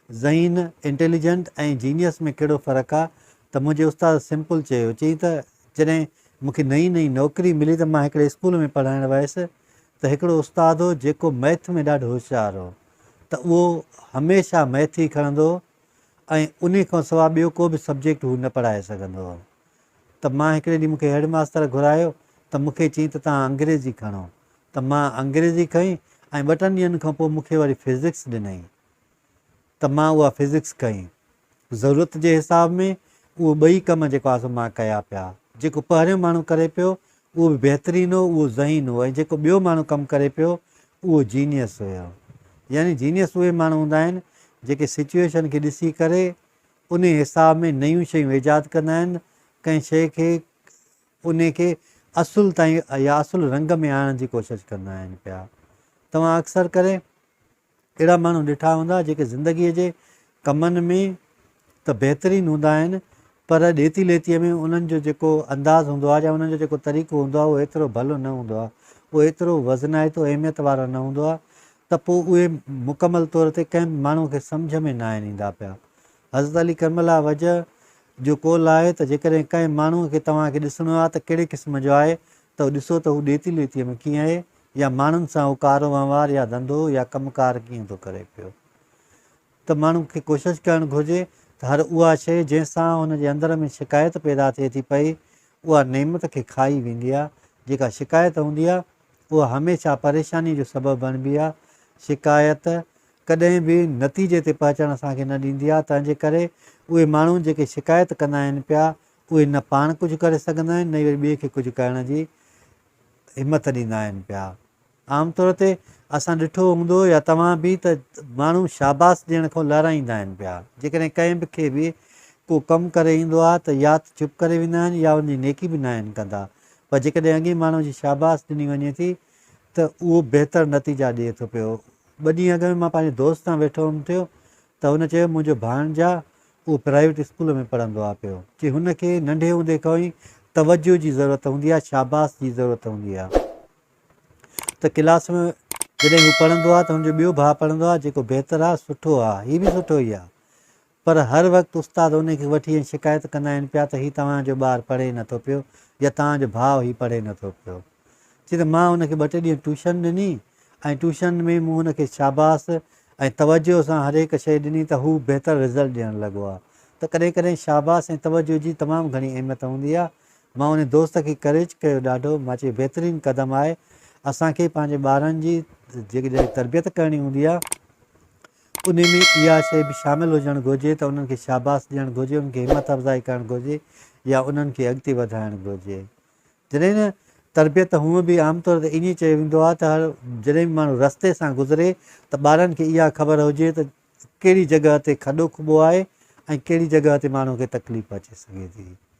ذهين، Intelligent، ۽ genius ۾ ڪهڙو فرق آ ته منهنجي استاد سمپل چيو، چيائين ته جڏهن مون کي نئين نئين نوڪري ملي ته مان هڪڙي اسڪول ۾ پڙهائڻ ويس ته هڪڙو استاد هو جيڪو ميٿ ۾ ڏاڍو هوشيار هو ته اهو هميشه ميٿ ئي کڻندو هو ۽ انهي کان سوا ٻيو ڪو به سبجيڪٽ هو نه پڙهائي سگهندو هو ته مان هڪڙي ڏينهن مون کي هيڊ ماستر گهرايو ته مون کي چيائين ته توهان انگريزي کڻو ته مان انگريزي کنئي ۽ ٻه ٽن ڏينهن کان پوء مون کي وري فزڪس ڏنائين ته مان اها فزڪس ڪئي. ضرورت جي حساب ۾ اهي ٻئي ڪم جيڪو آسو مان ڪيا پيا. جيڪو پهريون ماڻهو ڪري پيو اهو به بهترين هو، اهو ذهين هو ۽ جيڪو ٻيو ماڻهو ڪم ڪري پيو اهو جينيئس هيو. يعني جينيئس اهي ماڻهو هوندا آهن جيڪي سچوئيشن کي ڏسي ڪري انهي حساب ۾ نيون شيون ايجاد ڪندا آهن، ڪنهن شيء کي انهي کي اصل تائين يا اصل رنگ ۾ آڻڻ جي ڪوشش ڪندا آهن پيا. توهان اڪثر ڪري اهڙا ماڻهو ڏٺا هوندا جيڪي زندگيء جي ڪمن ۾ ته بهترين هوندا آهن پر ڏيتي ليتيء ۾ انهن جو جيڪو انداز هوندو آهي يا انهن جو جيڪو طريقو هوندو آهي اهو ايترو ڀلو نه هوندو آهي، اهو ايترو وزنائتو اهميت وارو نه هوندو آهي ته پوء اهي مڪمل طور تي ڪنهن به ماڻهوء کي سمجهه ۾ ناهن ايندا پيا. حضرت علي ڪرم الله وجهه جو قول آهي ته جيڪڏهن ڪنهن ماڻهوء کي توهان کي ڏسڻو آهي ته ڪهڙي قسم جو آهي ته اهو ڏسو ته هو ڏيتي ليتيء ۾ ڪيئن اهي يا ماڻهن سان اهو ڪارو وهنوار يا ڌنڌو يا ڪم ڪار ڪيئن ٿو ڪري پيو ته ماڻهو کي ڪوشش ڪرڻ گهرجي ته هر اها شيء جنهن سان هن جي اندر ۾ شڪايت پيدا ٿئي ٿي پئي اها نعمت کي کائي ويندي آهي جيڪا شڪايت هوندي آهي اها هميشه پريشانيء جو سبب بڻبي آهي شڪايت ڪڏهن به نتيجي تي پهچڻ اسان کي نه ڏيندي آهي، تنهن جي ڪري اهي ماڻهو جيڪي شڪايت ڪندا آهن پيا، اهي نه پاڻ ڪجهه ڪري سگهندا آهن، نه ئي وري ٻئي کي ڪجهه ڪرڻ جي همت ڏيندا آهن پيا. عام طور تي اسان ڏٺو هوندو يا توهان به ته ماڻهو شاباس ڏيڻ کان لارائيندا آهن پيا. جيڪڏهن ڪنهن به کي به ڪو ڪم ڪري ايندو آهي ته يا ته چپ ڪري ويندا آهن يا ان جي نيڪي به ناهن ڪندا. پر جيڪڏهن اڳئين ماڻهو جي شاباس ڏني وڃي ٿي ته اهو بهتر نتيجا ڏئي ٿو پيو. ٻه ڏينهن اڳ ۾ مان پنهنجي دوست سان ويٺو هئم ٿيو ته هن چيو منهنجو ڀاڻجا اهو پرائيويٽ اسڪول ۾ پڙهندو آهي پيو. چي هن کي ننڍي هوندي کان ئي توجهه جي ضرورت هوندي آهي شاباس جي ضرورت هوندي آهي ته ڪلاس ۾ جڏهن هو پڙهندو آهي ته هن جو ٻيو ڀاء پڙهندو آهي جيڪو بهتر آهي سٺو آهي هي به سٺو ئي آهي. پر هر وقت استاد انهي کي وٺي ائين شڪايت ڪندا آهن پيا ته هي توهان جو ٻار پڙهي نٿو پيو يا توهان جو ڀاء هي پڙهي نٿو پيو. چي ته مان ان کي ٻه ٽي ڏينهن ٽيوشن ڏني ۽ ٽيوشن ۾ مون ان کي شاباس ۽ توجهه سان هر هڪ شيء ڏني ته هو بهتر رزلٽ ڏيڻ لڳو آهي ته ڪڏهن ڪڏهن شاباس ۽ توجهه جي تمام گهڻي اهميت هوندي آهي. مان انهي دوست کي ڪريج ڪيو ڏاڍو. مان چيو بهترين قدم آهي. اسان کي پنهنجي ٻارن جي جيڪڏهن تربيت ڪرڻي هوندي آهي. انهي ۾ اها شيء به شامل هجڻ گهرجي ته انهن کي شاباس ڏيڻ گهرجي، انهن کي همت افزائي ڪرڻ گهرجي يا انهن کي اڳتي وڌائڻ گهرجي. جڏهن نه تربيت ته هونء به عام طور تي ائين ئي چيو ويندو آهي ته هر جڏهن به ماڻهو رستي سان گذري ته ٻارن کي اها خبر هجي ته ڪهڙي جڳهه تي کڏو کٻو آهي ۽ ڪهڙي جڳهه تي ماڻهو کي تڪليف اچي سگهي ٿي.